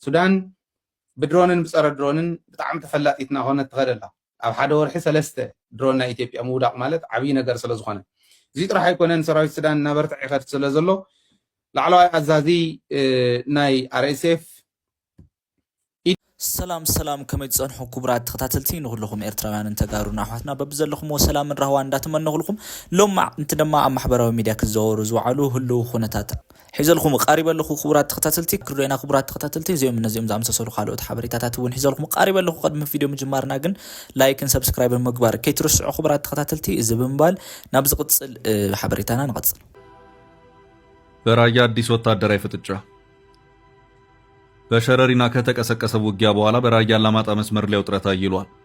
ሱዳን ብድሮንን ብጸረ ድሮንን ብጣዕሚ ተፈላጢት እናኾነት ትኸድ ኣላ። ኣብ ሓደ ወርሒ ሰለስተ ድሮን ናይ ኢትዮጵያ ምውዳቕ ማለት ዓብዪ ነገር ስለዝኾነ እዙይ ጥራሕ ኣይኮነን ሰራዊት ሱዳን እናበርትዕ ይኸድ ስለዘሎ ላዕለዋይ ኣዛዚ ናይ ኣርኤስኤፍ ሰላም ሰላም ከመይ ትጸንሑ ክቡራት ተኸታተልቲ ንኹልኹም ኤርትራውያንን ተጋሩን ኣሕዋትና በብዘለኹምዎ ሰላምን ራህዋን እንዳተመነኹልኩም ሎማዕ ንቲ ድማ ኣብ ማሕበራዊ ሚድያ ክዘወሩ ዝወዓሉ ህልው ኩነታት ሒዘልኩም ቃሪበ ኣለኹ ክቡራት ተኸታተልቲ ክርዶና ክቡራት ተኸታተልቲ እዚኦም እነዚኦም ዝኣምሰሰሉ ካልኦት ሓበሬታታት እውን ሒዘልኩም ቃሪበ ኣለኹ ቅድሚ ቪድዮ ምጅማርና ግን ላይክን ሰብስክራይብን ምግባር ከይትርስዑ ክቡራት ተኸታተልቲ እዚ ብምባል ናብ ዝቕፅል ሓበሬታና ንቐፅል በራያ አዲስ ወታደራዊ ፍጥጫ በሸረሪና ከተቀሰቀሰ ውጊያ በኋላ በራያ አላማጣ መስመር ላይ ውጥረት አይሏል።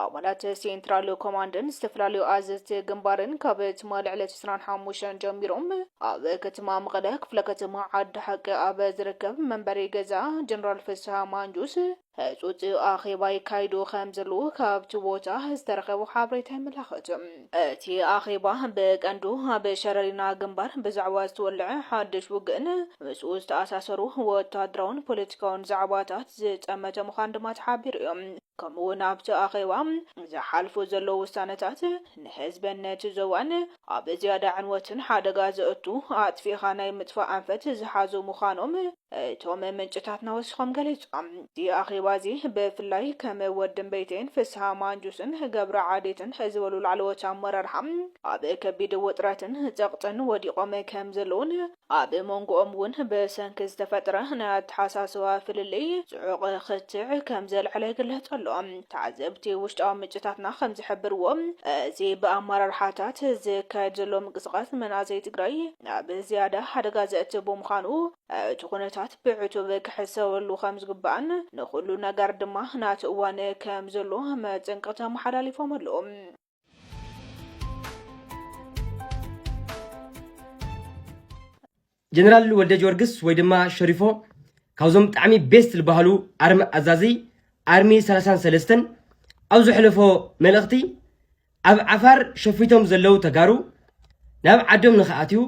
ኣባላት ሴንትራል ኮማንድን ዝተፈላለዩ ኣዘዝቲ ግንባርን ካብ ትማሊ ዕለት ዕስራን ሓሙሽተን ጀሚሮም ኣብ ከተማ መቐለ ክፍለ ከተማ ዓዲ ሓቂ ኣብ ዝርከብ መንበሪ ገዛ ጀነራል ፍስሃ ማንጁስ ህጹጽ ኣኼባ ይካይዱ ከም ዘለዉ ካብቲ ቦታ ዝተረኸቡ ሓበሬታ የመላኽት። እቲ ኣኼባ ብቀንዱ ኣብ ሸረሪና ግንባር ብዛዕባ ዝተወልዐ ሓድሽ ውግእን ምስኡ ዝተኣሳሰሩ ወተሃደራውን ፖለቲካውን ዛዕባታት ዝጠመተ ምዃኑ ድማ ተሓቢሩ እዩ። ከምኡ ውን ኣብቲ ኣኼባ ዝሓልፉ ዘለዉ ውሳነታት ንህዝብን ነቲ ዞባን ኣብ ዝያዳ ዕንወትን ሓደጋ ዘእቱ ኣጥፊእኻ ናይ ምጥፋእ ኣንፈት ዝሓዙ ምዃኖም እቶም ምንጭታትና ወሲኾም ገሊጾም። እዚ ኣኼባ እዚ ብፍላይ ከም ወዲምበይተይን ፍስሃ ማንጁስን ገብረ ዓዴትን ዝበሉ ላዕለዎት ኣመራርሓ ኣብ ከቢድ ውጥረትን ጸቕጥን ወዲቖም ከም ዘለዉን ኣብ ሞንጎኦም እውን ብሰንኪ ዝተፈጥረ ናይ ኣተሓሳስባ ፍልልይ ጽዑቕ ክትዕ ከም ዘልዓለ ይግለጽ ኣሎ። ተዓዘብቲ ውሽጣዊ ምንጭታትና ከም ዝሕብርዎ፣ እዚ ብኣመራርሓታት ዝካየድ ዘሎ ምንቅስቓስ ንመናእሰይ ትግራይ ናብ ዝያዳ ሓደጋ ዘእትው ብምዃኑ እቲ ኩነታት ብዕቱብ ክሕሰበሉ ከም ዝግባእን ንኹሉ ነገር ድማ ናቱ እዋን ከም ዘሎ መጠንቀቕታ ኣመሓላሊፎም ኣለዉ። ጀነራል ወልደ ጊዮርጊስ ወይ ድማ ሸሪፎ ካብዞም ብጣዕሚ ቤስት ዝበሃሉ ኣርሚ ኣዛዚ ኣርሚ 33 ኣብ ዝሕለፎ መልእኽቲ ኣብ ዓፋር ሸፊቶም ዘለው ተጋሩ ናብ ዓዶም ንኽኣትዩ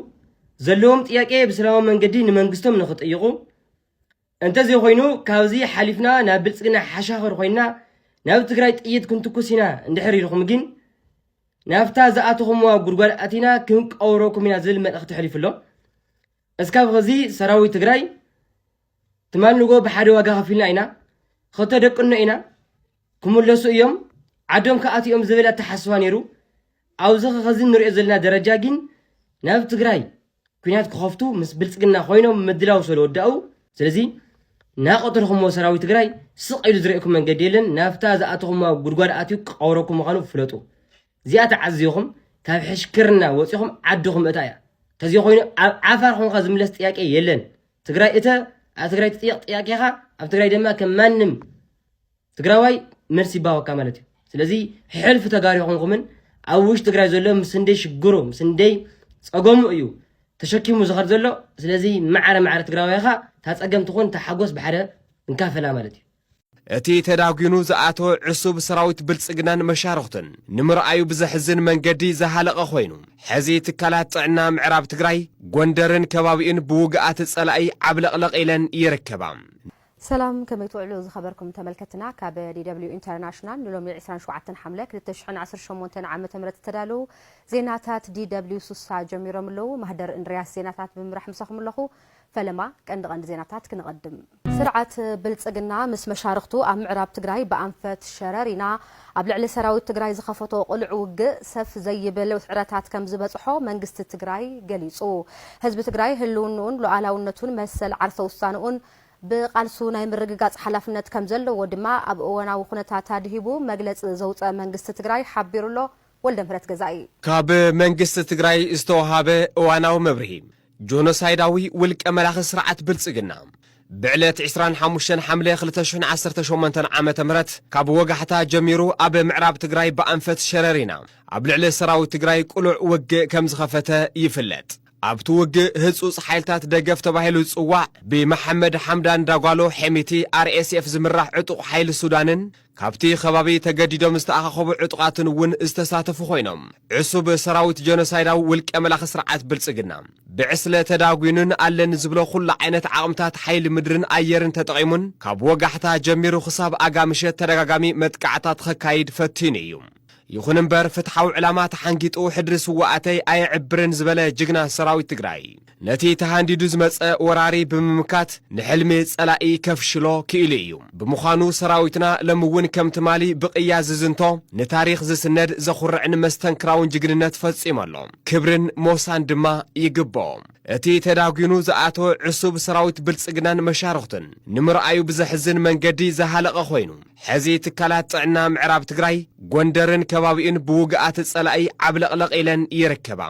ዘለዎም ጥያቄ ብሰላማዊ መንገዲ ንመንግስቶም ንኽጥይቑ እንተዘይኾይኑ ካብዚ ሓሊፍና ናብ ብልፅግና ሓሻኽር ኮይንና ናብ ትግራይ ጥይት ክንትኩስ ኢና እንድሕር ኢልኹም ግን ናብታ ዝኣተኹምዋ ጉድጓድ ኣቲና ክንቀውረኩም ኢና ዝብል መልእኽቲ ተሕሊፉ ኣሎ እስካብ ኸዚ ሰራዊት ትግራይ ትማል ንጎ ብሓደ ዋጋ ከፊልና ኢና ከተደቅኖ ኢና ክምለሱ እዮም ዓዶም ክኣት እዮም ዝብል ኣተሓስባ ነይሩ ኣብዚ ኸዚ ንሪኦ ዘለና ደረጃ ግን ናብ ትግራይ ኩናት ክኸፍቱ ምስ ብልፅግና ኮይኖም ምድላው ሰለወዳኡ ስለዚ ናቐተልኹምዎ ሰራዊት ትግራይ ስቕ ኢሉ ዝርእየኩም መንገዲ የለን ናብታ ዝኣተኹምዋ ጉድጓድ ኣትዩ ክቐብረኩም ምዃኑ ፍለጡ እዚኣ ተዓዝኹም ካብ ሕሽክርና ወፂኹም ዓድኹም ምእታ እያ ተዚዮ ኮይኑ ኣብ ዓፋር ኾንካ ዝምለስ ጥያቄ የለን ትግራይ እተ ኣብ ትግራይ ትጥየቕ ጥያቄኻ ኣብ ትግራይ ድማ ከም ማንም ትግራዋይ መልሲ ይባወካ ማለት እዩ ስለዚ ሕልፊ ተጋሩ ይኹንኩምን ኣብ ውሽጢ ትግራይ ዘሎ ምስ እንደይ ሽግሩ ምስ እንደይ ፀገሙ እዩ ተሸኪሙ ዝኸድ ዘሎ ስለዚ ማዕረ ማዕረ ትግራዋይ ኻ ታፀገም ትኹን ታሓጎስ ብሓደ እንካፈላ ማለት እዩ እቲ ተዳጒኑ ዝኣተወ ዕሱብ ሰራዊት ብልጽግናን መሻርኽቱን ንምርኣዩ ብዘሕዝን መንገዲ ዝሃለቐ ኮይኑ ሕዚ ትካላት ጥዕና ምዕራብ ትግራይ ጎንደርን ከባቢኡን ብውግኣት ጸላኢ ዓብለቕለቕ ኢለን ይርከባ። ሰላም ከመይ ትውዕሉ ዝኸበርኩም ተመልከትና ካብ DW International ንሎሚ ዕስራን ሸውዓተን ሓምለ ክልተ ሽሕን ዓሰርተ ሸሞንተን ዓመተ ምህረት ዝተዳለዉ ዜናታት DW ሱሳ ጀሚሮም ኣለዉ። ማህደር እንድርያስ ዜናታት ብምምራሕ ምሳኹም ኣለኹ። ፈለማ ቀንዲ ቀንዲ ዜናታት ክነቐድም። ስርዓት ብልጽግና ምስ መሻርኽቱ ኣብ ምዕራብ ትግራይ ብኣንፈት ሸረሪና ኣብ ልዕሊ ሰራዊት ትግራይ ዝኸፈቶ ቅሉዕ ውግእ ሰፍ ዘይብል ውስዕረታት ከምዝበጽሖ መንግስቲ ትግራይ ገሊጹ። ህዝቢ ትግራይ ህልውንኡን ሉኣላውነቱን መሰል ዓርሰ ውሳንኡን ብቓልሱ ናይ ምርግጋፅ ሓላፍነት ከምዘለዎ ድማ ኣብ እወናዊ ኩነታት ኣድሂቡ መግለፂ ዘውፀ መንግስቲ ትግራይ ሓቢሩ ኣሎ። ወልደምህረት ገዛኢ። ካብ መንግስቲ ትግራይ ዝተውሃበ እዋናዊ መብርሂ፣ ጆኖሳይዳዊ ውልቀ መላኺ ስርዓት ብልፅግና ብዕለት ዕስራን ሓሙሽተን ሓምለ ክልተ ሽሕን ዓሰርተ ሸሞንተን ዓመተ ምህረት ካብ ወጋሕታ ጀሚሩ ኣብ ምዕራብ ትግራይ ብኣንፈት ሸረሪና ኣብ ልዕሊ ሰራዊት ትግራይ ቅሉዕ ውግእ ከምዝኸፈተ ይፍለጥ። ኣብቲ ውግእ ህጹጽ ሓይልታት ደገፍ ተባሂሉ ዝጽዋዕ ብመሓመድ ሓምዳን ዳጓሎ፣ ሔሚቲ፣ RSF ዝምራሕ ዕጡቕ ሓይሊ ሱዳንን ካብቲ ከባቢ ተገዲዶም ዝተኣኻኸቡ ዕጡቓትን እውን ዝተሳተፉ ኮይኖም፣ ዕሱብ ሰራዊት ጀኖሳይዳዊ ውልቀ መላኺ ስርዓት ብልጽግና ብዕስለ ተዳጒኑን ኣለኒ ዝብሎ ኩሉ ዓይነት ዓቕምታት ሓይሊ ምድርን ኣየርን ተጠቒሙን ካብ ወጋሕታ ጀሚሩ ክሳብ ኣጋ ምሸት ተደጋጋሚ መጥቃዕታት ኸካይድ ፈቲኑ እዩ። ይኹን እምበር ፍትሓዊ ዕላማ ተሓንጊጡ ሕድሪ ስውኣተይ ኣየዕብርን ዝበለ ጅግና ሰራዊት ትግራይ ነቲ ተሃንዲዱ ዝመፀ ወራሪ ብምምካት ንሕልሚ ፀላኢ ከፍሽሎ ክኢሉ እዩ። ብምዃኑ ሰራዊትና ሎሚ እውን ከም ትማሊ ብቕያ ዝዝንቶ ንታሪኽ ዝስነድ ዘኹርዕን መስተንክራውን ጅግንነት ፈፂሙ ኣሎ። ክብርን ሞሳን ድማ ይግበኦ። እቲ ተዳጒኑ ዝኣተወ ዕሱብ ሰራዊት ብልፅግናን መሻርኽቱን ንምርኣዩ ብዘሕዝን መንገዲ ዝሃለቐ ኮይኑ፣ ሕዚ ትካላት ጥዕና ምዕራብ ትግራይ፣ ጎንደርን ከባቢኡን ብውግኣት ፀላኢ ዓብለቕለቕ ኢለን ይርከባ።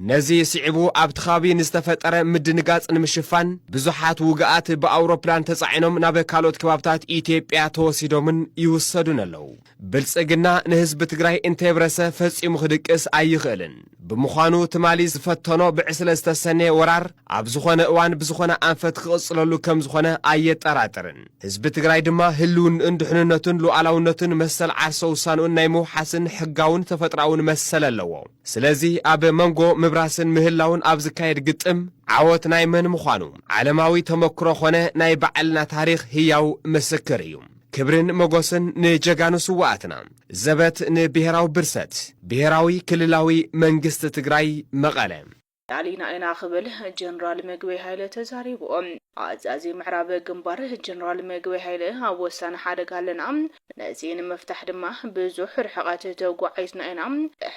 ነዚ ስዒቡ ኣብቲ ከባቢ ንዝተፈጠረ ምድንጋፅ ንምሽፋን ብዙሓት ውግኣት ብኣውሮፕላን ተፃዒኖም ናብ ካልኦት ከባብታት ኢትዮጵያ ተወሲዶምን ይውሰዱን ኣለው። ብልፅግና ንህዝቢ ትግራይ እንተየብረሰ ፈፂሙ ክድቅስ ኣይኽእልን። ብምዃኑ ትማሊ ዝፈተኖ ብዕስለ ዝተሰነየ ወራር ኣብ ዝኾነ እዋን ብዝኾነ ኣንፈት ክቕፅለሉ ከምዝኾነ ኣየጠራጥርን። ህዝቢ ትግራይ ድማ ህልውንኡን ድሕንነቱን ሉኣላውነቱን መሰል ዓርሰ ውሳንኡን ናይ ምውሓስን ሕጋውን ተፈጥሮኣውን መሰል ኣለዎ። ስለዚ ኣብ መንጎ ምብራስን ምህላውን ኣብ ዝካየድ ግጥም ዓወት ናይ መን ምዃኑ ዓለማዊ ተመክሮ ኾነ ናይ ባዕልና ታሪኽ ህያው ምስክር እዩ። ክብርን መጎስን ንጀጋኑ ስውኣትና! ዘበት ንብሄራዊ ብርሰት ብሄራዊ ክልላዊ መንግስቲ ትግራይ መቐለ! ላዕሊና ኢና ክብል ጀነራል ምግበይ ሃይለ ተዛሪቡ። ኣዛዚ ምዕራብ ግንባር ጀነራል ምግበይ ሃይለ ኣብ ወሳኒ ሓደጋ ኣለና፣ ነዚ ንምፍታሕ ድማ ብዙሕ ርሕቐት ተጓዒዝና ኢና፣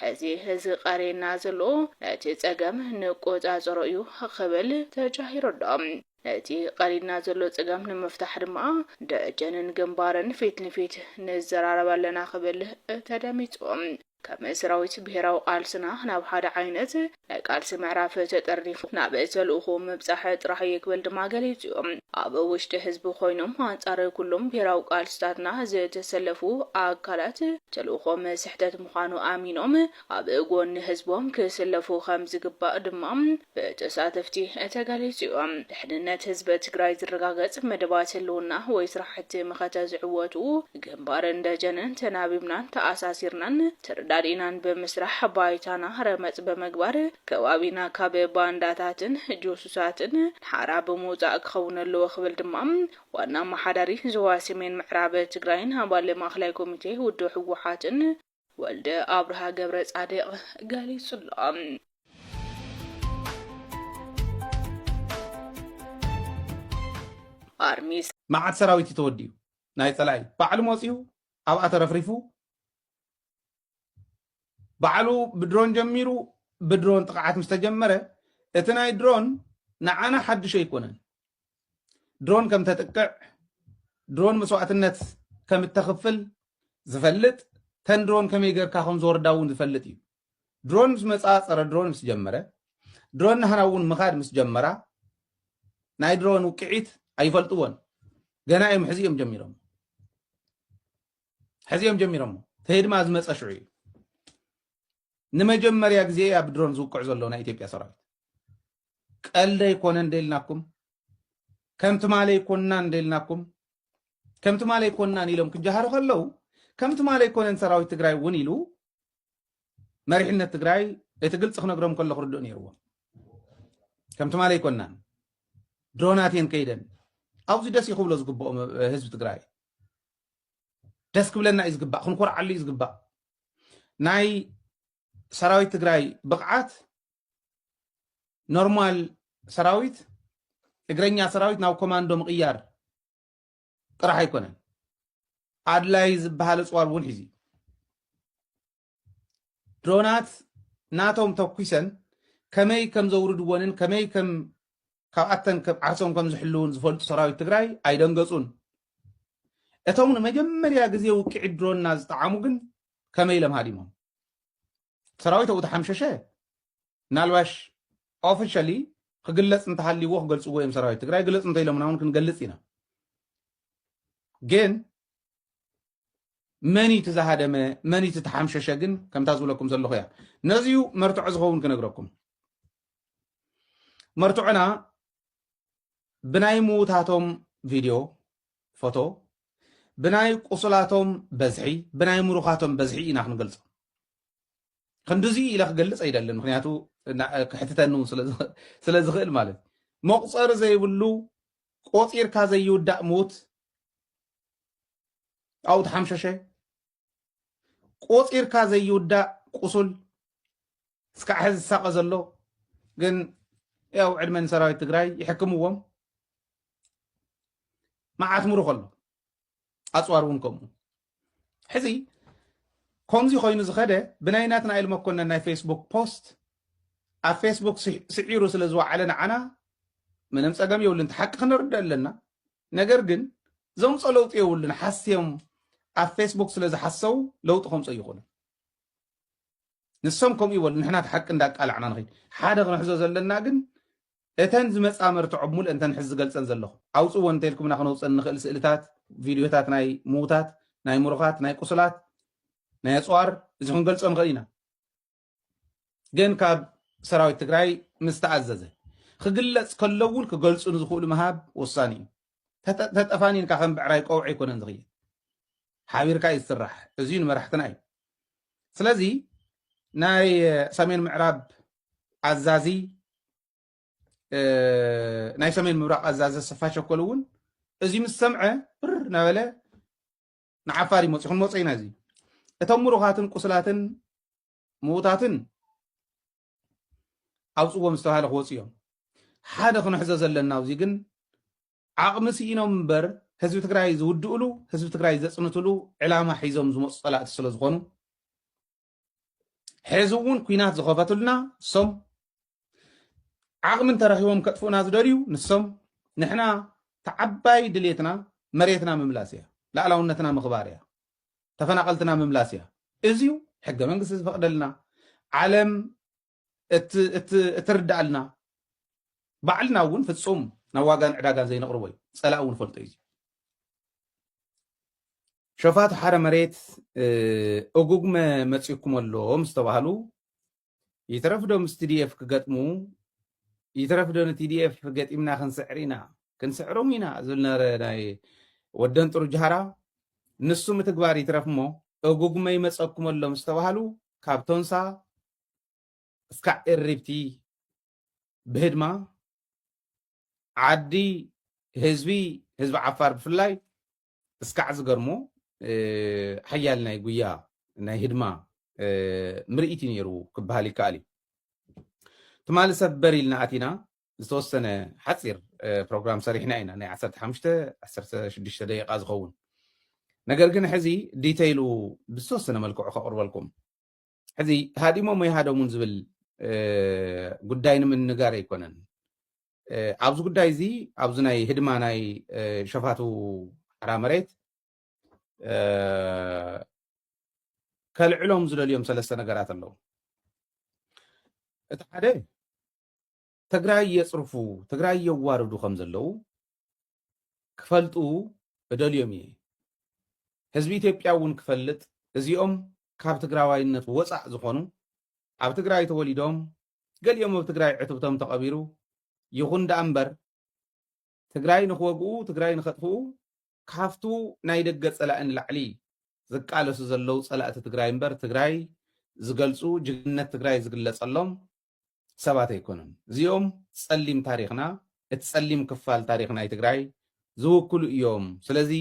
ሕዚ ዝቐርየና ዘሎ ነቲ ፀገም ንቆፃፀሮ እዩ ክብል ተጃሂሩ ኣሎ። እቲ ቐሪድና ዘሎ ፀገም ንምፍታሕ ድማ ደጀንን ግንባርን ፊት ንፊት ንዘራረብ ኣለና ክብል ተደሚፁ። ከም ሰራዊት ብሄራዊ ቓልስና ናብ ሓደ ዓይነት ናይ ቓልሲ ምዕራፍ ተጠርኒፉ ናብ ተልእኾኡ ምብፃሕ ጥራሕ እዩ ክብል ድማ ገሊፁ እዩ። ኣብ ውሽጢ ህዝቢ ኮይኖም ኣንፃር ኩሎም ብሄራዊ ቓልስታትና ዝተሰለፉ ኣካላት ተልእኾም ስሕተት ምዃኑ ኣሚኖም ኣብ ጎኒ ህዝቦም ክስለፉ ከምዝግባእ ድማ ብተሳተፍቲ ተገሊፁ ዩ። ድሕንነት ህዝቢ ትግራይ ዝረጋገፅ መደባት ህልውና ወይ ስራሕቲ መኸተ ዝዕወቱ ግንባርን ደጀንን ተናቢብናን ተኣሳሲርናን ተረዳዲእናን ብምስራሕ ባይታና ረመፅ ብምግባር ከባቢና ካብ ባንዳታትን ጁሱሳትን ሓራ ብምውፃእ ክኸውን ኣለዎ ክብል ድማ ዋና ኣማሓዳሪ ዞባ ሰሜን ምዕራብ ትግራይን ኣባል ማእኸላይ ኮሚቴ ውድብ ህወሓትን ወልደ ኣብርሃ ገብረጻድቕ ገሊጹ'ሎ። ኣርሚ። መዓት ሰራዊት እዩ ተወዲኡ ናይ ፀላኢ ባዕሉ መፂኡ ኣብኣ ተረፍሪፉ ባዕሉ ብድሮን ጀሚሩ ብድሮን ጥቕዓት ምስ ተጀመረ እቲ ናይ ድሮን ንዓና ሓድሽ ኣይኮነን ድሮን ከም ተጥቅዕ ድሮን መስዋእትነት ከም እተኽፍል ዝፈልጥ ተን ድሮን ከመይ ጌርካ ከም ዝወርዳ እውን ዝፈልጥ እዩ ድሮን ምስ መፃ ፀረ ድሮን ምስ ጀመረ ድሮን ናህና እውን ምኻድ ምስ ጀመራ ናይ ድሮን ውቅዒት ኣይፈልጥዎን ገና እዮም ሕዚ እዮም ጀሚሮም ሕዚ እዮም ጀሚሮሞ ተሄድማ ዝመፀ ሽዑ እዩ ንመጀመርያ ግዜ ኣብ ድሮን ዝውቅዕ ዘሎ ናይ ኢትዮጵያ ሰራዊት ቀልዲ ኣይኮነን እንደ ኢልናኩም ከም ትማሊ ኣይኮንናን እንደ ኢልናኩም ከም ትማሊ ኣይኮንናን ኢሎም ክጀሃሩ ከለው ከም ትማሊ ኣይኮነን ሰራዊት ትግራይ እውን ኢሉ መሪሕነት ትግራይ እቲ ግልፂ ክነግሮም ከሎ ክርድኡ ነይርዎም ከም ትማሊ ኣይኮንናን ድሮናት እየን ከይደን ኣብዚ ደስ እዩ ክብሎ ዝግብኦ ህዝቢ ትግራይ ደስ ክብለና እዩ ዝግባእ ክንኮርዓሉ እዩ ዝግባእ ናይ ሰራዊት ትግራይ ብቕዓት ኖርማል ሰራዊት እግረኛ ሰራዊት ናብ ኮማንዶ ምቕያር ጥራሕ ኣይኮነን ኣድላይ ዝበሃል እፅዋር እውን ሒዙ ድሮናት ናቶም ተኩሰን ከመይ ከም ዘውርድዎንን ከመይ ከም ካብኣተን ዓርሶም ከም ዝሕልውን ዝፈልጡ ሰራዊት ትግራይ ኣይደንገፁን እቶም ንመጀመርያ ግዜ ውቅዒ ድሮና ዝጠዓሙ ግን ከመይ ኢሎም ሃዲሞም ሰራዊት ኣብኡ ተሓምሸሸ ምናልባሽ ኦፊሻሊ ክግለፅ እንተሃልይዎ ክገልፅዎ እዮም ሰራዊት ትግራይ ግለፅ እንተኢሎምና እውን ክንገልፅ ኢና ግን መን እቲ ዝሃደመ መን እቲ ተሓምሸሸ ግን ከምታ ዝብለኩም ዘለኹ እያ ነዚዩ መርትዖ ዝኸውን ክነግረኩም መርትዖና ብናይ ምውታቶም ቪድዮ ፎቶ፣ ብናይ ቁሱላቶም በዝሒ፣ ብናይ ምሩኻቶም በዝሒ ኢና ክንገልጾም። ክንድዚ ኢለ ክገልጽ ኣይደልን፣ ምክንያቱ ክሕትተኒ እውን ስለ ዝኽእል ማለት እዩ። መቑጸሪ ዘይብሉ ቆጺርካ ዘይውዳእ ምዉት ኣብኡ ተሓምሸሸ፣ ቆፂርካ ዘይውዳእ ቁሱል እስካዕ ሕዚ ዝሳቀ ዘሎ ግን ያው ዕድመ ንሰራዊት ትግራይ ይሕክምዎም መዓት ምሩ ከሎ ኣፅዋር እውን ከምኡ ሕዚ ከምዚ ኮይኑ ዝኸደ ብናይ ናትናኤል መኮነን ናይ ፌስቡክ ፖስት ኣብ ፌስቡክ ስዒሩ ስለ ዝወዓለ ንዓና ምንም ፀገም የብሉን ሓቂ ክንርዳእ ኣለና ነገር ግን ዘምጾ ለውጢ የብሉን ሓስዮም ኣብ ፌስቡክ ስለ ዝሓሰው ለውጢ ከምጾ ይኹንን ንሶም ከምኡ ይበሉ ንሕና እቲ ሓቂ እንዳቃላዕና ንኸይድ ሓደ ክንሕዞ ዘለና ግን እተን ዝመፃ መርትዖ ብሙሉእ እንተን ሕዚ ዝገልፀን ዘለኹ ኣውፅዎ እንተልኩምና ክነውፀን ንኽእል ስእልታት ቪድዮታት ናይ ምውታት ናይ ምሩኻት ናይ ቁስላት ናይ ኣፅዋር እዚ ክንገልፆ ንኽእል ኢና ግን ካብ ሰራዊት ትግራይ ምስ ተኣዘዘ ክግለጽ ከሎ እውን ክገልጹ ንዝኽእሉ ምሃብ ወሳኒ እዩ። ተጠፋኒንካ ከም ብዕራይ ቆውዒ ኣይኮነን ዝኽየድ፣ ሓቢርካ እዩ ዝስራሕ። እዚዩ ንመራሕትና እዩ። ስለዚ ናይ ሰሜን ምዕራብ ኣዛዚ ናይ ሰሜን ምብራቕ ኣዛዚ ስፋ ሸኮል እውን እዚ ምስ ሰምዐ ብር ናበለ ንዓፋር ይመፁ ክንመፆ ኢና እዚ እቶም ምሩኻትን ቁስላትን ምዉታትን ኣውፅዎም ዝተባሃለ ክወፁ እዮም ሓደ ክንሕዞ ዘለና ኣብዚ ግን ዓቕሚ ስኢኖም እምበር ህዝቢ ትግራይ ዝውድእሉ ህዝቢ ትግራይ ዘፅንትሉ ዕላማ ሒዞም ዝመፁ ፀላእቲ ስለ ዝኾኑ ሐዚ እውን ኩናት ዝኸፈቱልና እሶም ዓቕሚ እንተረኺቦም ከጥፍኡና ዝደልዩ ንሶም ንሕና ተዓባይ ድሌትና መሬትና ምምላስ እያ ላዕላውነትና ምኽባር እያ ተፈናቐልትና ምምላስ እያ እዚዩ ሕገ መንግስቲ ዝፈቕደልና ዓለም እትርዳኣልና ባዕልና እውን ፍፁም ናብ ዋጋን ዕዳጋን ዘይነቕርቦ እዩ ፀላእ እውን ፈልጦ እዩ ሸፋቱ ሓረ መሬት እጉግመ መፂኩም ኣሎ ምስ ተባሃሉ ይትረፍ ዶ ምስ ቲዲኤፍ ክገጥሙ ይትረፍ ዶ ንቲዲኤፍ ገጢምና ክንስዕር ኢና ክንስዕሮም ኢና ዝብል ነበረ ናይ ወደን ጥሩ ጃሃራ ንሱ ምትግባር ይትረፍ እሞ እጉግመ ይመፀኩም ኣሎ ምስ ተባሃሉ ካብ ቶንሳ እስካዕ እሪብቲ ብህድማ ዓዲ ህዝቢ ህዝቢ ዓፋር ብፍላይ እስካዕ ዝገርሞ ሓያል ናይ ጉያ ናይ ህድማ ምርኢት እዩ ነይሩ ክበሃል ይከኣል እዩ ትማሊ ሰበር ኢልና ኣቲና ዝተወሰነ ሓፂር ፕሮግራም ሰሪሕና ኢና ናይ 15 16 ደቂቃ ዝኸውን ነገር ግን ሕዚ ዲተይሉ ብዝተወሰነ መልክዑ ከቕርበልኩም ሕዚ ሃዲሞም ኣይሃደሙን ዝብል ጉዳይ ንምንጋር ኣይኮነን ኣብዚ ጉዳይ እዚ ኣብዚ ናይ ህድማ ናይ ሸፋቱ ሓራ መሬት ከልዕሎም ዝደልዮም ሰለስተ ነገራት ኣለዉ እቲ ሓደ ትግራይ የፅርፉ ትግራይ የዋርዱ ከም ዘለዉ ክፈልጡ እደልዮም እየ። ህዝቢ ኢትዮጵያ እውን ክፈልጥ እዚኦም ካብ ትግራዋይነት ወፃእ ዝኾኑ ኣብ ትግራይ ተወሊዶም ገሊኦም ኣብ ትግራይ ዕትብቶም ተቐቢሩ ይኹን ደኣ እምበር ትግራይ ንክወግኡ ትግራይ ንከጥፍኡ ካፍቱ ናይ ደገ ፀላኢ ንላዕሊ ዝቃለሱ ዘለው ፀላእቲ ትግራይ እምበር ትግራይ ዝገልፁ ጅግንነት ትግራይ ዝግለፀሎም ሰባት ኣይኮኑን እዚኦም ፀሊም ታሪኽና እቲ ፀሊም ክፋል ታሪኽ ናይ ትግራይ ዝውክሉ እዮም ስለዚ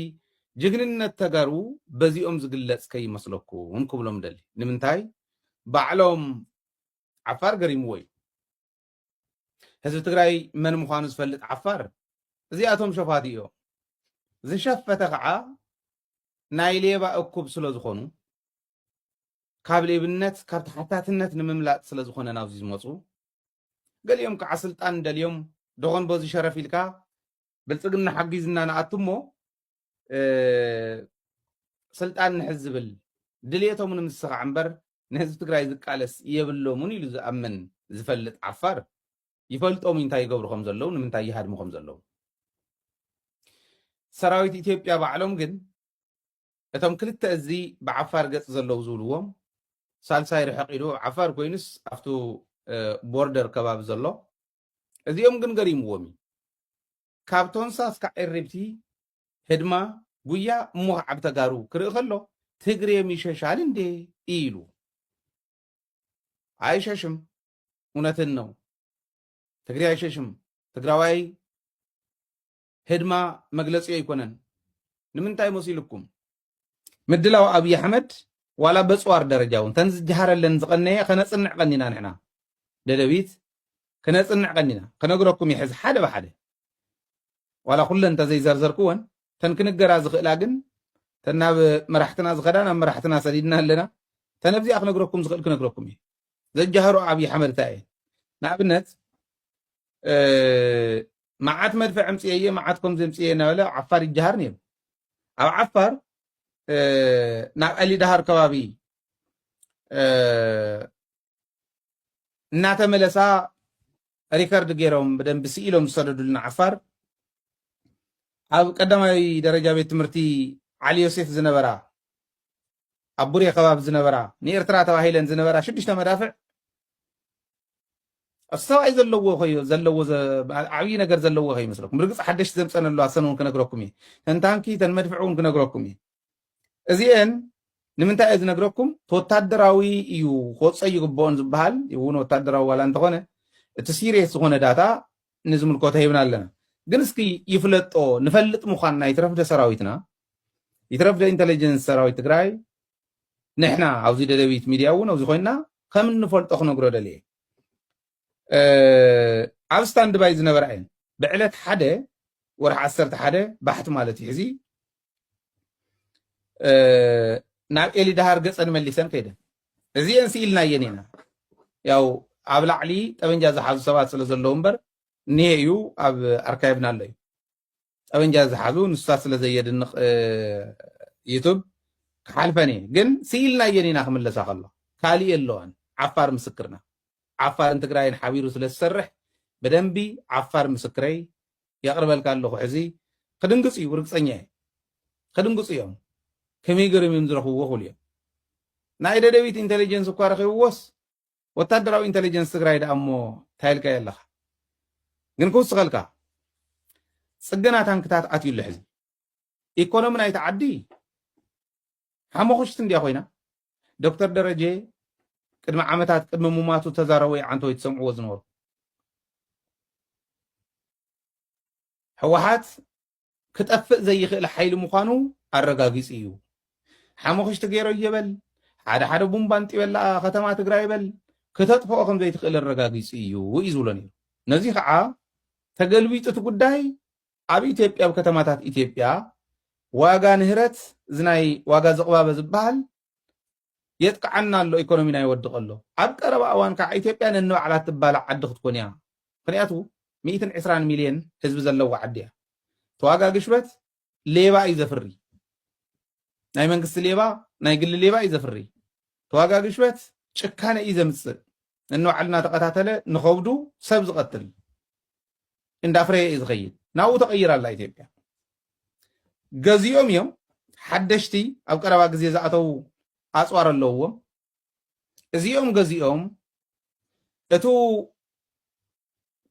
ጅግንነት ተጋሩ በዚኦም ዝግለፅ ከይመስለኩም ክብሎም ደሊ ንምንታይ ባዕሎም ዓፋር ገሪምዎ እዩ ህዝቢ ትግራይ መን ምዃኑ ዝፈልጥ ዓፋር እዚኣቶም ሸፋት እዮም ዝሸፈተ ከዓ ናይ ሌባ እኩብ ስለ ዝኾኑ ካብ ሌብነት ካብ ተሓታትነት ንምምላጥ ስለ ዝኾነ ናብዚ ዝመፁ ገሊኦም ከዓ ስልጣን ደልዮም ደኾን በዚ ሸረፍ ኢልካ ብልፅግና ሓጊዝና ንኣቱ እሞ ስልጣን ንሕዝ ዝብል ድልየቶም ንምስኻዕ እምበር ንህዝቢ ትግራይ ዝቃለስ የብሎምን ኢሉ ዝኣምን ዝፈልጥ ዓፋር ይፈልጦም እንታይ ይገብሩ ከም ዘለዉ ንምንታይ ይሃድሙ ከም ዘለዉ ሰራዊት ኢትዮጵያ ባዕሎም ግን እቶም ክልተ እዚ ብዓፋር ገጽ ዘለዉ ዝብልዎም ሳልሳይ ርሕቅ ኢሉ ዓፋር ኮይኑስ ኣብቱ ቦርደር ከባቢ ዘሎ እዚኦም ግን ገሪምዎም እዩ ካብ ቶንሳ እስካ ኤሪብቲ ህድማ ጉያ እሞ ከዓብ ተጋሩ ክርኢ ከሎ ትግሬም ይሸሻል እንዴ ኢሉ ኣይሸሽም እውነትን ነው ትግሬ ኣይሸሽም ትግራዋይ ህድማ መግለጺኡ ኣይኮነን ንምንታይ መሲሉኩም ምድላው ኣብይ ኣሕመድ ዋላ በጽዋር ደረጃ እውን ተን ዝጀሃረለን ዝቀነየ ከነጽንዕ ቀኒና ንሕና ደደቢት ክነጽንዕ ቀኒና ክነግረኩም ይሕዝ ሓደ ብሓደ ዋላ ኩለን ተዘይዘርዘርክወን ተን ክንገራ ዝኽእላ ግን ተን ናብ መራሕትና ዝኸዳ ናብ መራሕትና ሰዲድና ኣለና ተነብዚኣ ክነግረኩም ዝኽእል ክነግረኩም እዩ ዘጀሃሩ ኣብይ ኣሕመድ እንታይ እየን ንኣብነት መዓት መድፍዕ ኣምፅኤ እየ መዓት ከምዚ ኣምፅኤ እናበለ ኣብ ዓፋር ይጀሃር ነይሩ ኣብ ዓፋር ናብ ኣሊዳሃር ከባቢ እናተመለሳ ሪከርድ ገይሮም ብደንቢ ስኢሎም ዝሰደዱልና ዓፋር ኣብ ቀዳማዊ ደረጃ ቤት ትምህርቲ ዓሊ ዮሴፍ ዝነበራ ኣብ ቡሬ ከባቢ ዝነበራ ንኤርትራ ተባሂለን ዝነበራ ሽዱሽተ መዳፍዕ ኣብ ሰብኣይ ዘለዎ ኮዮ ዘለዎ ዓብዪ ነገር ዘለዎ ከይመስለኩም ብርግፅ ሓደሽቲ ዘምፀን ኣሎ ኣሰን እውን ክነግረኩም እየ ተንታንኪ ተን መድፍዕ እውን ክነግረኩም እየ እዚአን ንምንታይ እየ ዝነግረኩም ወታደራዊ እዩ ክወፀ ይግብኦን ዝበሃል እውን ወታደራዊ ዋላ እንተኾነ እቲ ሲሪየስ ዝኾነ ዳታ ንዝምልከቶ ሂብና ኣለና ግን እስኪ ይፍለጦ ንፈልጥ ምዃንና ይትረፍደ ሰራዊትና ይትረፍ ዶ ኢንተለጀንስ ሰራዊት ትግራይ ንሕና ኣብዚ ደደቢት ሚድያ እውን ኣብዚ ኮይንና ከም እንፈልጦ ክነግሮ ደልየ ኣብ ስታንድ ባይ ዝነበራ እየን ብዕለት ሓደ ወርሒ ዓሰርተ ሓደ ባሕቲ ማለት እዩ ሕዚ ናብ ኤሊ ዳሃር ገፀን መሊሰን ከይደን እዚአን ስኢልናየን ኢና ያው ኣብ ላዕሊ ጠበንጃ ዝሓዙ ሰባት ስለ ዘለዉ እምበር እኒሄ እዩ ኣብ ኣርካይቭና ኣሎ እዩ ጠበንጃ ዝሓዙ ንሱታት ስለ ዘየድንቅ ዩቱብ ክሓልፈን እየ ግን ስኢልናየን ኢና ክምለሳ ከሎ ካሊእ የለዋን ዓፋር ምስክርና ዓፋርን ትግራይን ሓቢሩ ስለ ዝሰርሕ ብደንቢ ዓፋር ምስክረይ የቅርበልካ ኣለኹ ሕዚ ክድንግፅ እዩ ርግፀኛ እየ ክድንግፁ እዮም ከመይ ገርም እዮም ዝረኽብዎ ክብሉ እዮም ናይ ደደቢት ኢንቴሊጀንስ እኳ ረኺብዎስ ወታደራዊ ኢንተለጀንስ ትግራይ ደኣ እሞ እንታይ ኢልካዮ ኣለኻ ግን ክውስኸልካ ፅገና ታንክታት ኣትዩ ኣሎ ሕዚ ኢኮኖሚ ናይቲ ዓዲ ሓሞኽሽቲ እንድያ ኮይና ዶክተር ደረጀ ቅድሚ ዓመታት ቅድሚ ሙማቱ ተዛረቦ ይዓንቶ ወይ ትሰምዕዎ ዝነበሩ ህወሓት ክጠፍእ ዘይኽእል ሓይሊ ምዃኑ ኣረጋጊጹ እዩ። ሓሙኽሽቲ ገይረዮ በል፣ ሓደ ሓደ ቡምባ ኣንጢበላ ከተማ ትግራይ በል፣ ክተጥፍኦ ከም ዘይትኽእል ኣረጋጊጹ እዩ እዩ ዝብሎ ነይሩ። ነዚ ኸዓ ተገልቢጡ እቲ ጉዳይ ኣብ ኢትዮጵያ ኣብ ከተማታት ኢትዮጵያ ዋጋ ንህረት እዚ ናይ ዋጋ ዝቕባበ ዝበሃል የጥቅዓና ኣሎ ኢኮኖሚና ይወድቅ ኣሎ ኣብ ቀረባ እዋን ካዓ ኢትዮጵያ ነንባዕላ ትባላዕ ዓዲ ክትኮን እያ ምክንያቱ ሚእትን ዕስራን ሚልየን ህዝቢ ዘለዋ ዓዲ እያ ተዋጋ ግሽበት ሌባ እዩ ዘፍሪ ናይ መንግስቲ ሌባ ናይ ግሊ ሌባ እዩ ዘፍሪ ተዋጋ ግሽበት ጭካነ እዩ ዘምፅእ ነንባዕሉ እናተቀታተለ ንከብዱ ሰብ ዝቀትል እንዳፍረየ እዩ ዝኸይድ ናብኡ ተቐይራ ኣላ ኢትዮጵያ ገዚኦም እዮም ሓደሽቲ ኣብ ቀረባ ግዜ ዝኣተዉ ኣፅዋር ኣለውዎም እዚኦም ገዚኦም እቱ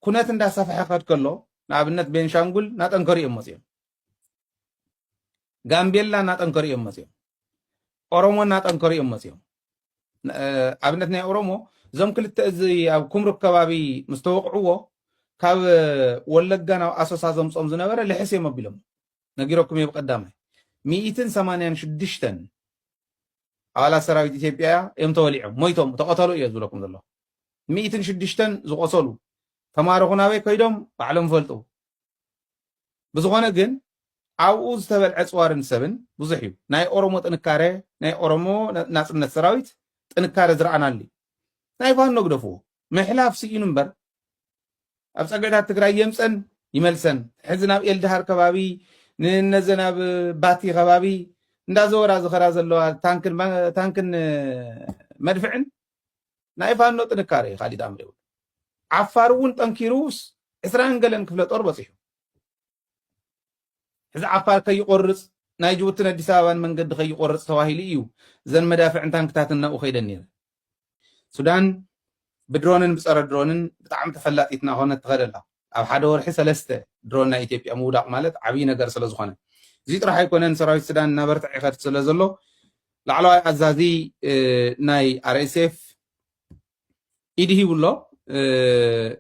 ኩነት እንዳሰፈሐ ክኸድ ከሎ ንኣብነት ቤንሻንጉል ናጠንከሩ እዮም መፅኦም ጋምቤላ እናጠንከሩ እዮም መፅኦም ኦሮሞ እናጠንከሩ እዮም መፅኦም ኣብነት ናይ ኦሮሞ እዞም ክልተ እዚ ኣብ ኩምሩክ ከባቢ ምስ ተወቕዕዎ ካብ ወለጋ ናብ ኣሶሳ ዘምፆም ዝነበረ ልሕስ እዮም ኣቢሎም ነጊረኩም እየ ብቀዳማይ ሚኢትን ሰማንያን ሽዱሽተን ኣባላት ሰራዊት ኢትዮጵያ እዮም ተወሊዖም ሞይቶም ተቐተሉ እዮ ዝብለኩም ዘሎ ሚኢትን ሽዱሽተን ዝቆሰሉ ተማረኹ ናበይ ከይዶም ባዕሎም ፈልጡ ብዝኾነ ግን ኣብኡ ዝተበልዐ ፅዋርን ሰብን ብዙሕ እዩ። ናይ ኦሮሞ ጥንካረ ናይ ኦሮሞ ናፅነት ሰራዊት ጥንካረ ዝረኣናሉ እዩ። ናይ ፋኖ ግደፍዎ ምሕላፍ ስኢኑ እምበር ኣብ ፀግዕታት ትግራይ የምፀን ይመልሰን ሕዚ ናብ ኤልድሃር ከባቢ ንነዘን ኣብ ባቲ ከባቢ እንዳዘወራ ዝኸራ ዘለዋ ታንክን መድፍዕን ናይ ፋኖ ጥንካረ እዩ ካሊድ ኣምር የብሉን። ዓፋር እውን ጠንኪሩ ዕስራን ገለን ክፍለ ጦር በፂሑ። ሕዚ ዓፋር ከይቆርፅ ናይ ጅቡትን ኣዲስ ኣበባን መንገዲ ከይቆርፅ ተባሂሉ እዩ እዘን መዳፍዕን ታንክታትን ናብኡ ከይደን ነይረን። ሱዳን ብድሮንን ብፀረ ድሮንን ብጣዕሚ ተፈላጢትና ኮነት ትኸድ ኣላ። ኣብ ሓደ ወርሒ ሰለስተ ድሮን ናይ ኢትዮጵያ ምውዳቕ ማለት ዓብዪ ነገር ስለዝኾነ። እዚ ጥራሕ ኣይኮነን ሰራዊት ሱዳን እናበርትዐ ይኸድ ስለዘሎ ላዕለዋይ ኣዛዚ ናይ RSF ኢድ ሂቡ ኣሎ።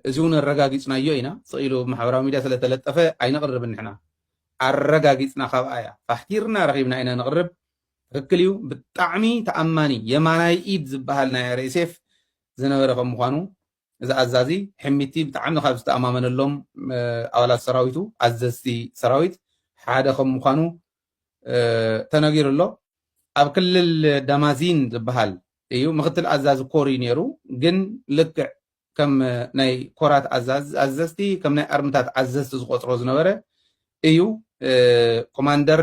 እዚ እውን ኣረጋጊፅናዮ ኢና። ስቕ ኢሉ ማሕበራዊ ሚድያ ስለተለጠፈ ኣይነቕርብን ንሕና። ኣረጋጊፅና ካብኣ እያ ፋሕቲርና ረኺብና ኢና ነቕርብ። ትኽክል እዩ ብጣዕሚ ተኣማኒ የማናይ ኢድ ዝበሃል ናይ RSF ዝነበረ ከም ምዃኑ እዚ ኣዛዚ ሕሚቲ ብጣዕሚ ካብ ዝተኣማመነሎም ኣባላት ሰራዊቱ፣ ኣዘዝቲ ሰራዊት፣ ሓደ ከም ምዃኑ ተነጊሩ ኣሎ። ኣብ ክልል ዳማዚን ዝበሃል እዩ። ምክትል ኣዛዚ ኮር እዩ ነይሩ፣ ግን ልክዕ ከም ናይ ኮራት ኣዘዝቲ፣ ከም ናይ ኣርምታት ኣዘዝቲ ዝቆፅሮ ዝነበረ እዩ። ኮማንደር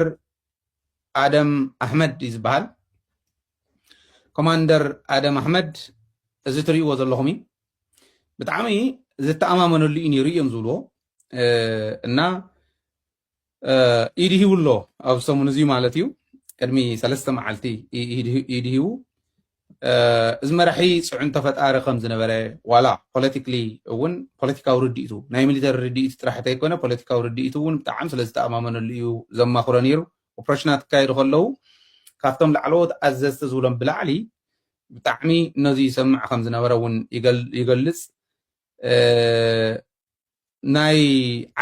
ኣደም ኣሕመድ እዩ ዝበሃል። ኮማንደር ኣደም ኣሕመድ እዚ ትርእይዎ ዘለኹም እዩ ብጣዕሚ ዝተኣማመነሉ እዩ ነይሩ እዮም ዝብልዎ እና ኢድ ሂቡ ኣሎ ኣብ ሰሙን እዚ ማለት እዩ ቅድሚ ሰለስተ መዓልቲ ኢድ ሂቡ እዚ መራሒ ፅዕንቶ ፈጣሪ ከም ዝነበረ ዋላ ፖለቲክሊ እውን ፖለቲካዊ ርድኢቱ ናይ ሚሊተሪ ርድኢቱ ጥራሕ እንተይኮነ ፖለቲካዊ ርድኢቱ እውን ብጣዕሚ ስለ ዝተኣማመነሉ እዩ ዘማኽሮ ነይሩ ኦፕረሽናት ክካየዱ ከለዉ ካብቶም ላዕለዎት ኣዘዝቲ ዝብሎም ብላዕሊ ብጣዕሚ ነዚ ይሰምዕ ከም ዝነበረ እውን ይገልጽ ናይ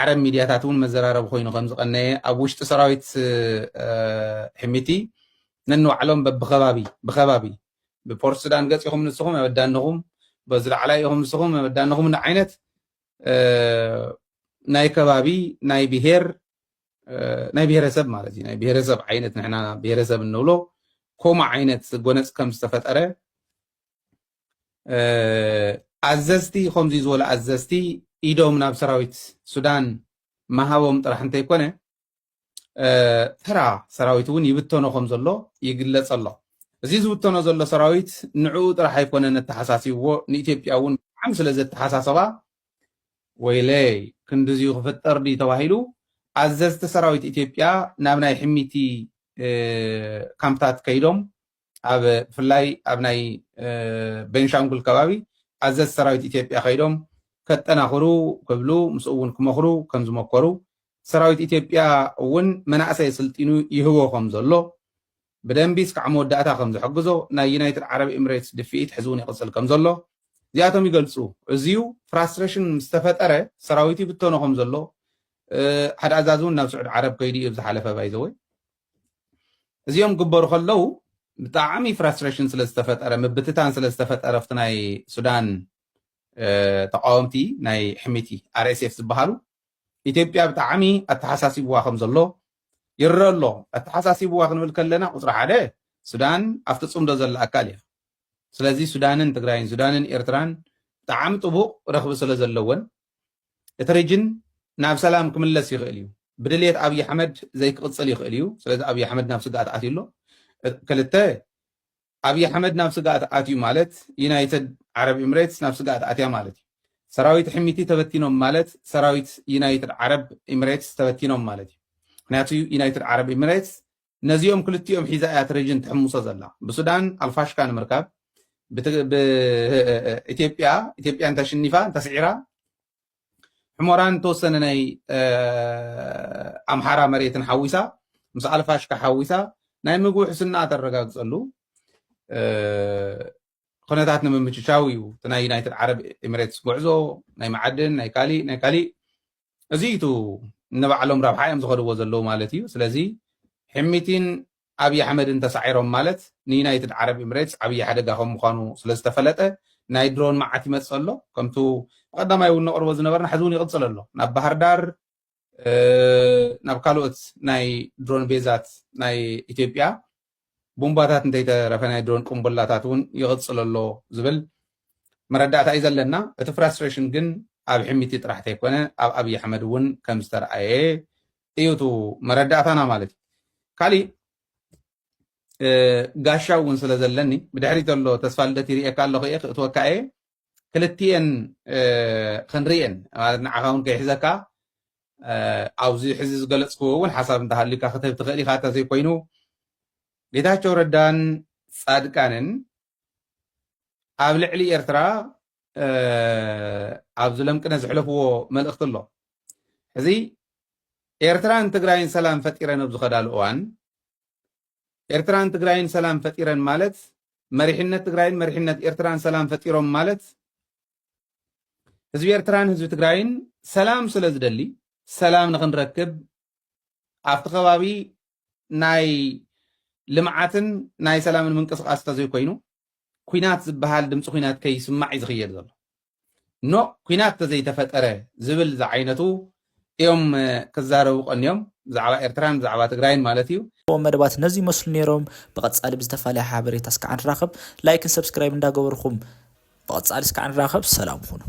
ዓረብ ሚድያታት እውን መዘራረቢ ኮይኑ ከም ዝቐነየ ኣብ ውሽጢ ሰራዊት ሕሚቲ ነንባዕሎም በብከባቢ ብከባቢ ብፖርት ሱዳን ገጽ ኢኹም ንስኹም ኣበዳንኹም በዚ ላዕላይ ኢኹም ንስኹም ኣበዳንኹም ዓይነት ናይ ከባቢ ናይ ብሄር ናይ ብሄረሰብ ማለት እዩ ናይ ብሄረሰብ ዓይነት ንሕና ብሄረሰብ እንብሎ ከምኡ ዓይነት ጎነፅ ከም ዝተፈጠረ ኣዘዝቲ ከምዚ ዝበሉ ኣዘዝቲ ኢዶም ናብ ሰራዊት ሱዳን ምሃቦም ጥራሕ እንተይኮነ ተራ ሰራዊት እውን ይብተኖ ከም ዘሎ ይግለፅ ኣሎ እዚ ዝብተኖ ዘሎ ሰራዊት ንዕኡ ጥራሕ ኣይኮነን ኣተሓሳሲብዎ ንኢትዮጵያ እውን ብጣዕሚ ስለ ዘተሓሳሰባ ወይለይ ክንድዚዩ ክፍጠር ድዩ ተባሂሉ ኣዘዝቲ ሰራዊት ኢትዮጵያ ናብ ናይ ሕሚቲ ካምፕታት ከይዶም ኣብ ብፍላይ ኣብ ናይ ቤንሻንጉል ከባቢ ኣዘዝቲ ሰራዊት ኢትዮጵያ ከይዶም ከጠናኽሩ ክብሉ ምስኡ እውን ክመኽሩ ከም ዝመኮሩ ሰራዊት ኢትዮጵያ እውን መናእሰይ ስልጢኑ ይህቦ ከም ዘሎ ብደንቢ እስካዕ መወዳእታ ከም ዝሕግዞ ናይ ዩናይትድ ዓረብ ኢምሬትስ ድፍኢት ሕዚ እውን ይቕጽል ከም ዘሎ እዚኣቶም ይገልጹ። እዚዩ ፍራስትረሽን ምስ ተፈጠረ ሰራዊቱ ይብተኖ ከም ዘሎ ሓደ ኣዛዚ እውን ናብ ስዑድ ዓረብ ከይዱ እዩ ኣብ ዝሓለፈ ባይ ዘ ወይ እዚኦም ግበሩ ከለው ብጣዕሚ ፍራስትሬሽን ስለ ዝተፈጠረ ምብትታን ስለ ዝተፈጠረ ኣብቲ ናይ ሱዳን ተቃወምቲ ናይ ሕሚቲ ኣርኤስኤፍ ዝበሃሉ ኢትዮጵያ ብጣዕሚ ኣተሓሳሲብዋ ከም ዘሎ ይረኣ ኣሎ። ኣተሓሳሲብዋ ክንብል ከለና ቁጽሪ ሓደ ሱዳን ኣብቲ ጽምዶ ዘላ ኣካል እያ። ስለዚ ሱዳንን ትግራይን፣ ሱዳንን ኤርትራን ብጣዕሚ ጥቡቕ ረኽቢ ስለዘለወን እቲ ሪጅን ናብ ሰላም ክምለስ ይኽእል እዩ። ብድልየት ኣብይ ኣሕመድ ዘይክቕጽል ይኽእል እዩ። ስለዚ ኣብይ ኣሕመድ ናብ ስግኣት ኣትዩ ኣሎ። ክልተ ኣብይ ኣሕመድ ናብ ስግኣት ኣትዩ ማለት ዩናይትድ ዓረብ ኢምሬትስ ናብ ስግኣት ኣትያ ማለት እዩ። ሰራዊት ሕሚቲ ተበቲኖም ማለት ሰራዊት ዩናይትድ ዓረብ ኢምሬትስ ተበቲኖም ማለት እዩ። ምክንያቱ ዩናይትድ ዓረብ ኢምሬትስ ነዚኦም ክልቲኦም ሒዛ እያ እቲ ሪጅን ትሕምሶ ዘላ። ብሱዳን ኣልፋሽካ ንምርካብ፣ ብኢትዮጵያ ኢትዮጵያ እንተሽኒፋ እንተስዒራ ሕሞራን ተወሰነ ናይ ኣምሓራ መሬትን ሓዊሳ ምስ ኣልፋሽካ ሓዊሳ ናይ ምግቢ ሕስና ተረጋግፀሉ ኩነታት ንምምችቻው እዩ እቲ ናይ ዩናይትድ ዓረብ ኤሚሬትስ ጉዕዞ ናይ መዓድን ናይ ካሊእ ናይ ካሊእ እዚ እዩ ንባዕሎም ረብሓ እዮም ዝኸድዎ ዘለዉ ማለት እዩ ስለዚ ሕሚቲን ኣብዪ ኣሕመድን ተሳዒሮም ማለት ንዩናይትድ ዓረብ ኢምሬትስ ዓብዪ ሓደጋ ከም ምዃኑ ስለ ዝተፈለጠ ናይ ድሮን መዓት ይመጽእ ኣሎ። ከምቱ ብቐዳማይ እውን ነቕርቦ ዝነበርና ሕዚ እውን ይቕጽል ኣሎ። ናብ ባህርዳር፣ ናብ ካልኦት ናይ ድሮን ቤዛት ናይ ኢትዮጵያ ቡምባታት እንተይተረፈ ናይ ድሮን ቅምቡላታት እውን ይቕጽል ኣሎ ዝብል መረዳእታ እዩ ዘለና። እቲ ፍራስትሬሽን ግን ኣብ ሕሚቲ ጥራሕ እንተይኮነ ኣብ ኣብዪ ኣሕመድ እውን ከም ዝተርኣየ እዩ እቲ መረዳእታና ማለት እዩ ካሊእ ጋሻ እውን ስለ ዘለኒ ብድሕሪት ዘሎ ተስፋ ልደት ይርእየካ ኣለኹ እየ ክእትወካ እየ ክልትኤን ክንርእየን ማለት ንዓኻ እውን ከይሕዘካ ኣብዚ ሕዚ ዝገለፅክዎ እውን ሓሳብ እንተሃልዩካ ክትህብ ትኽእል ኢኻ እንተዘይኮይኑ ጌታቸው ረዳን ፃድቃንን ኣብ ልዕሊ ኤርትራ ኣብ ዝለምቅነ ዝሕለፍዎ መልእኽቲ ኣሎ ሕዚ ኤርትራን ትግራይን ሰላም ፈጢረን ኣብ ዝኸዳሉ እዋን ኤርትራን ትግራይን ሰላም ፈጢረን ማለት መሪሕነት ትግራይን መሪሕነት ኤርትራን ሰላም ፈጢሮም ማለት ህዝቢ ኤርትራን ህዝቢ ትግራይን ሰላም ስለ ዝደሊ ሰላም ንክንረክብ ኣብቲ ከባቢ ናይ ልምዓትን ናይ ሰላምን ምንቅስቓስ እንተዘይኮይኑ ኩናት ዝበሃል ድምፂ ኩናት ከይስማዕ እዩ ዝኽየድ ዘሎ ኖ ኩናት እንተዘይተፈጠረ ዝብል ዝዓይነቱ እዮም ክዛረቡ ቀንዮም ብዛዕባ ኤርትራን ብዛዕባ ትግራይን ማለት እዩ መደባት ነዚ ይመስሉ ነይሮም ብቐጻሊ ብዝተፈላለየ ሓበሬታ እስካዕ ንራኸብ ላይክን ሰብስክራይብ እንዳገበርኹም ብቐጻሊ እስካዕ ንራኸብ ሰላም ኹኑ